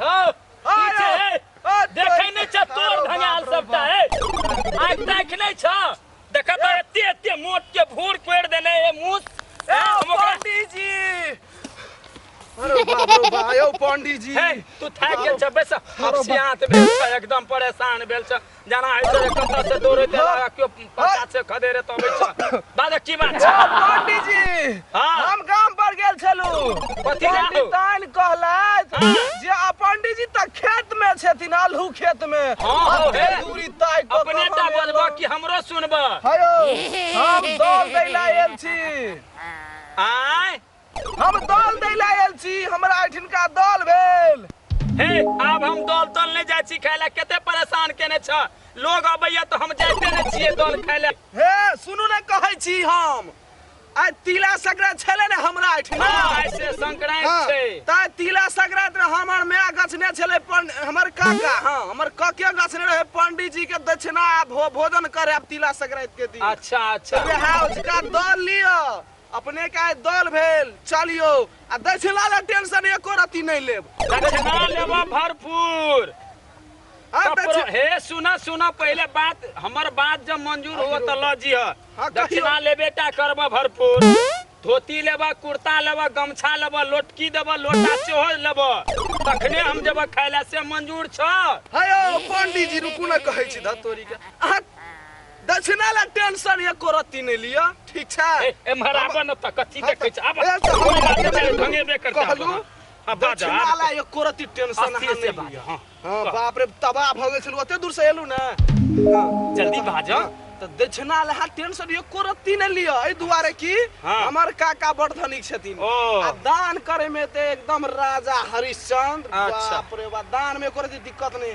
हँ, पीछे है। देखै नहि छह तोर धंगाल सबटा है। आँखि ताँखि नहि छह? देखह तऽ एते एते मोट के भूर कोड़ि देने है मुँह। हैं, हम ओकरा- पंडीजी अरे बाप रे बा यौ पंडीजी हैं, तू थाकि गेल छह, बैसह। हँसियात भेल छह, एकदम परेशान भेल छह। जाना है तो कत्ता से दौड़े ते लगा क्यों पता से खदे रे तो बैठा बाजे की बात छै पंडित जी हां हम गांव पर गेल छलु कथि गेल तान कहलैत हाँ। जे आ पंडित जी त खेत में छथिन आलू खेत में हां हे दूरी ताय को अपने टा बजबा कि हमरो सुनबा हयो हम दौड़ दैला आयल छी आय हम दल दै लए आयल छी हमरा एठिनका दल भेल हे आब हम दल तल नहि जाइ छी खाय लए कते परेशान केने छ लोग अबैया तऽ हम जाइते नहि छियै दल खाय लए हे सुनू ने कहै छी हम आइ तिला संक्रांत छलै ने हमरा एठिन हँ, आइ से संक्रांत हँ, छै ताहि तिला संक्रांत रहे हमर माय गछने छलै पन- हमर काका हँ हमर कके गछने रहे पंडित जी के दक्षिणा आ भो- भोजन करे आब तिला संक्रांत के दिन अच्छा अच्छा वएह उसका दल लिअ अपनेके आइ दल भेल चलियौ आ दक्षिणा ले टेंशन एको रत्ती नहि लेब दक्षिणा लेबऽ भरपूर हाँ, तब दक्षिण- प्रो- हे सुना सुना पहले बात हमर बात जब मंजूर हो तो ल जी हाँ, कहियो। दक्षिणा लेबे टा करब भरपूर धोती लेब कुर्ता लेब गमछा लेब लोटकी देब लोटा सेहो लेब तखने हम जब खाय ले से मंजूर छ हयो पंडीजी रुकू ने कहै छी धतोरी के अहाँ दक्षिणा ला टेंशन एको रत्ती नहीं लिया ठीक छै ए एम्हर आबऽ न तऽ कथी हाँ, देखै छै आबऽ ए, तऽ हमरा हमरा बाते बाते भंगे बे करता कहलू, हां बाजा दक्षिणा ला एको रत्ती टेंशन अहाँ अस्थिर से नहीं बाज लिया हां हाँ बाप रे तबाह भऽ गेल छलू ओते दूर से एलू ने जल्दी बाज तऽ दक्षिणा ला टेंशन एको रत्ती नहीं लिया एहि दुआरे कि हाँ। हमर काका बड़ धनिक छथिन ओ। आ दान करे में ते एकदम राजा हरिश्चंद्र अच्छा। बाप रे बाप दान में एको रत्ती दिक्कत नहीं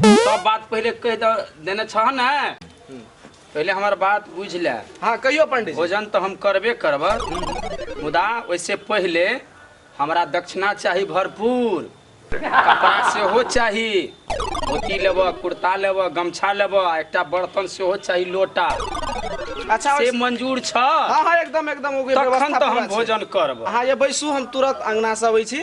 सब बात पहिले कहि दऽ देने छह ने पहिले हमर बात बुझ ले हाँ कहियो पंडित जी। भोजन तऽ हम करबे करब मुदा ओहिसे पहिले हमरा दक्षिणा चाही भरपूर कपड़ा सेहो चाही धोती लेब कुर्ता लेब गमछा लेब आ एकटा बर्तन सेहो चाही लोटा अच्छा से मंजूर छ हाँ हाँ एकदम एकदम ओके तखन व्यवस्था तऽ पूरा हम छै। भोजन करब अहाँ ये बैसू हम तुरंत अंगना से अबै छी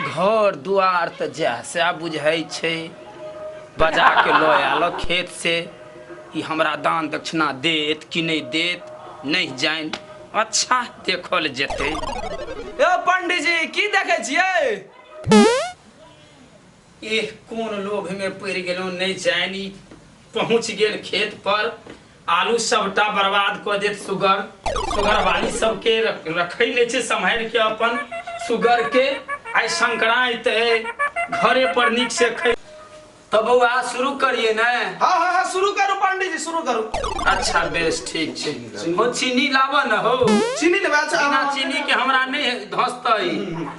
घर दुआर तऽ जएह सएह बुझाइ छै बजा के लऽ आयल खेत से ई हमरा दान दक्षिणा देत कि नहि देत नहि जानि अच्छा देखल जेतै ए पंडीजी की देखै छियै एह कोन लोभ में पड़ गेलो नहीं जानी पहुंच गेल खेत पर आलू सबटा बर्बाद क देत सुगर सुगर वाली सबके रख- रखै ले छै सम्हारि के अपन सुगर के आइ संक्रांत है घरे पर नीक से खै तो बौआ शुरू करिए ने हाँ हाँ हाँ शुरू करू पांडे जी शुरू करू अच्छा बेस ठीक छै हो चीनी लाबऽ न हो चीनी लेबा बिना चीनी के हमरा नहीं धसतै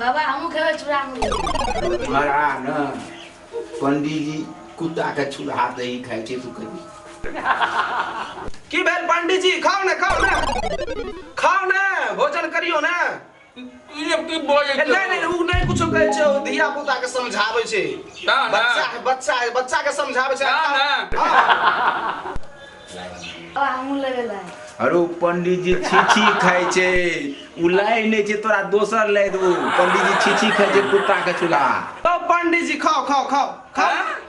बाबा हमहूँ खेबै चूड़ा मुरही मरा न पंडीजी कुत्ता के छुड़ा दही खाइ छै तू कभी की भेल पंडीजी खाओ ने खाओ ने खाओ ने भोजन करियो ने अरे पंडित जी छीछी खाए छे उ लाई नहीं छे तोरा दोसर लाई देबो पंडित जी छीछी खाए छे कुत्ता के चूल्हा तो पंडित जी खाओ खाओ खाओ खाओ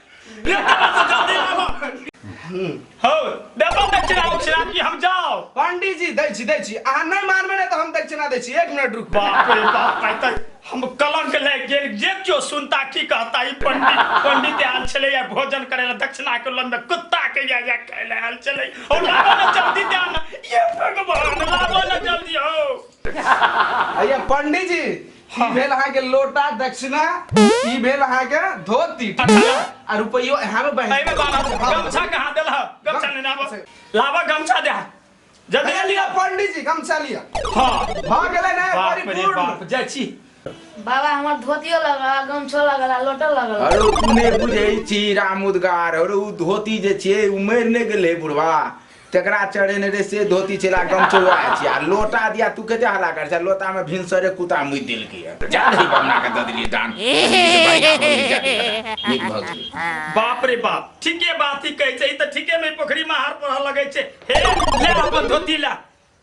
ये जल्दी लाबो हौ देबो दक्षिणा उक्षिणा कि हम जाओ पंडित जी दै छी दै छी अहाँ नहि मानबै ने तऽ हम दक्षिणा दै छी एक मिनट रुक बाप रे बाप आइ तऽ हम कलंक लागि गेल जे केओ सुनता की कहता ई पंडित पंडित आयल छलै या भोजन करै लए दक्षिणा के लम्बे कुत्ता के या या खाय लए आयल छलै ओ लाबो ने जल्दी दे ने ये भगवान लाबो ने जल्दी हौ अय्या पंडित जी ई भेल अहाँ के लोटा दक्षिणा ई भेल अहाँ के धोती ठीक है? आ रुपयो अहाँ में बहन एहिमे बाबा गमछा कहाँ देलह गमछा नहि लाबा लाबा गमछा दे जल्दी भैया लिया पंडित जी गमछा लिया हाँ भ गेलै ना बाप रे परिपूर्ण बाप जाइ छी बाबा हमर धोतियो लगला गमछो लगला लोटो लगला अरे तू नहि बुझै छी राम उद्गार अरे उ धोती जे छियै उमरि नहि गेलै बुढ़वा तेकरा चढ़ेने रे से धोती छेला गमछो वएह छियै आ लोटा दिया तू कते हल्ला कर छै लोटा में भिनसरे कुता मुइ देलकै है जा दही बमना के द देलिए दान बाप रे बाप ठीके बात ही कहै छै ई त ठीके में पोखरी में हार पढ़ लगै छै हे ले अपन धोती ला